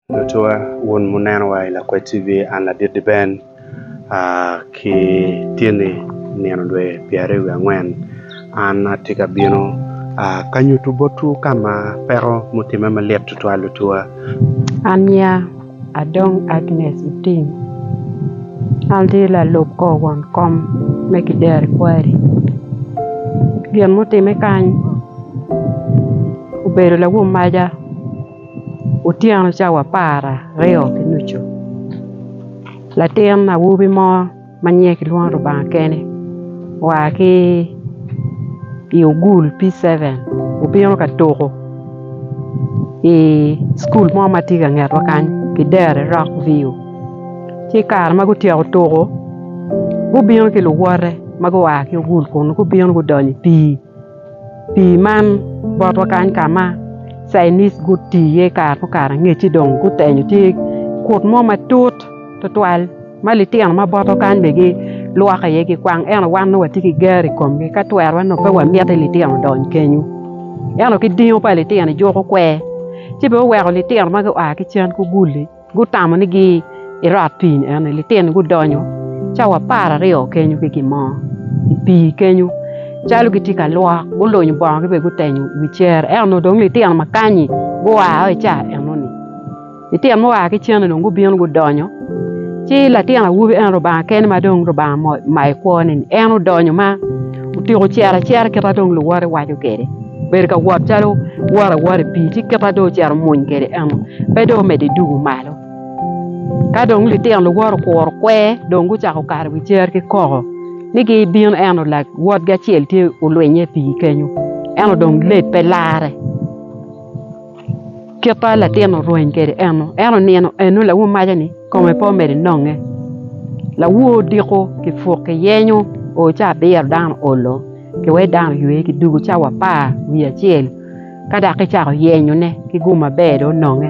Lutuwa, wun muneno wa i Lakwed TV, an Ladit Diben ki tyeni nino dwe pyeraryo wiye angwen an atye ka bino ka nyutu botwu ka ma peko mutimme malit tutwal lutuwa. Ania, adong Agnes Otim, an atye lalub kor won kom me Kideri Kwari. Gin mutimme kany obedo lawum maja. Otyeno cawa apara aryo ki nucu latin awobi mo ma nyinge kilwongo ni Lubanga kene oa ki i ogul P7 obino ka tuko i cukul mo ma tye ka ngetwa kany kideri rock view ci i kare ma gutyeko tuko gubino ki luwote ma gua ki ogul kunu gubino gudonyo i pii. Pii man botwa kany ka ma cainis guti iye kare mukato angecci dong gutenyo tye kut mo matut tutwal ma litino ma botwa kany bene gilwoko iye gikwang ento wan nongo watye ki ger i komgi ka twero nongo pe wamiti litino odony kenyo ento ki dingo pa litino ijuko kwer ci bene oweko litino ma gua ki cen gugul-li. Gutamo ni gi irot pii ni eno litino gudonyo cawa apar aryo kenyo ki gin mo i pii kenyo calo gitye ka lwok gulunyo bongo gi bene gutenyo i wi cere ento nongo dong litino ma kanyi gua o i cawa eno ni litino mua ki cen ni dong gubino gudonyo ci latin awobi eno Lubanga kene ma dong Lubanga omayo i kwo ni en odonyo ma otyeko cito acita kit ma dong luwote waco kwede. Bedo ka wot calo woto awota i pii ci kite dong ocito omuny kwede eno pe dong omedde i dugo malo. Ka dong litino luwot okuro kwer dong gucako kato i wi cer ki koko ni gibino eno wotgi acel tye olwinye i pii kenyo eno dong late pe larre kit ma latin-ni orweny kwede eno en onino eno lawo maca ni kome pe omedo nonge lawo odiko kipuk kiyenyo oo ci abiro dano olo. kiweyo dano oywe ki dwogo cawa apar wiye acel ka dok kicako yenyone ki gum maber dong ononge.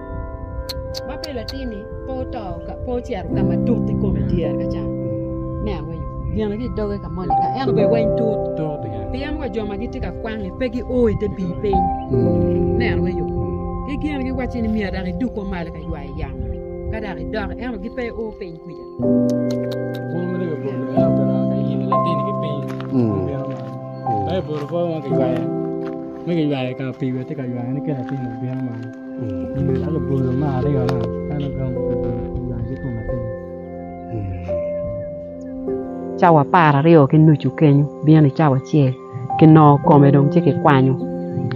ma pe latinni pe oto pe ocito ka ma tut i kome dyere ka ca me aweyo gine ki i doge ka moni ka en obed weny tut pien wa jo ma gitye ka kwangi pe gio i te pii piny me aweyo ki gin giwacci ni myero dok idug ko malo ka ywayo yamo ka dok idok ento gin pe gio piny kwija Cawa apar aryo ki nucu kenyo bino i cawa acel kinongo kome dong ci kikwanyo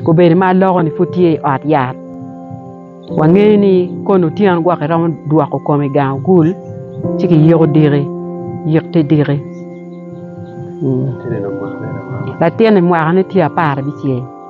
obedo ma aloko-ni pud tye i ot yat wangeyo ni koni otyeno gwok iromo dwoko kom i gang ogul ci kiyiko diki yik te diki latinni mwakane tye apar abicel.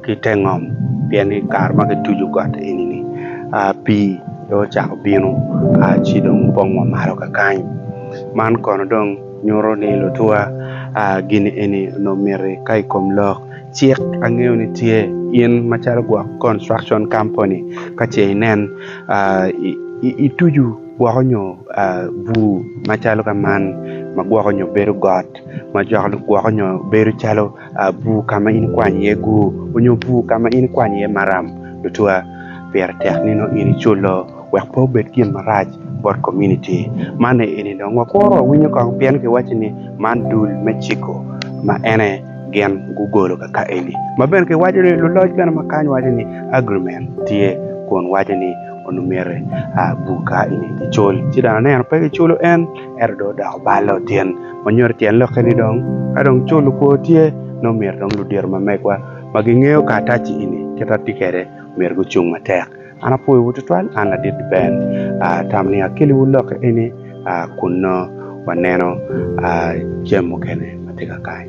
Ki te ngom, pien i kare ma kituco got eni-ni, pii dong ocako bino ci dong opong wa malo kakany. Man kono dong nyuto ni lutuwa gini eni onongo miti ka i kom lok cik angeyo ni tye in macalo gwok construction company ka ce inen itucu gwoko nyo bur macalo ka man ma gwoko nyo bedo got ma gwoko nyo bedo calo Bur ka ma in ikwany iye gur onyo bur ka ma in ikwany iye maram tutwa, pire tek nino in iculo wek pe obed gin marac bot kominiti. Man aye eni dong wakuru wawinyo kong pien kiwacci ni man dul me ciko ma en aye gin gugolo kaka eni. Ma bene kiwaco ni luloc bene ma kany waco ni agreement tye kun waco ni onongo myero bur ka eni kicul ci dong aneno pe kiculo en. Ento dong odoko balo tyen ma nyuto tyen lokke ni dong ka dong culo kwo tye nongo myero dong ludito ma megwa ma gingeyo karataci eni kit ma tye kwede myero gucung matek. An apwoyowu twatwal an ladit Ben atamo ni akeliwu lokke eni kun nongo waneno jami mukene ma tye ka kany.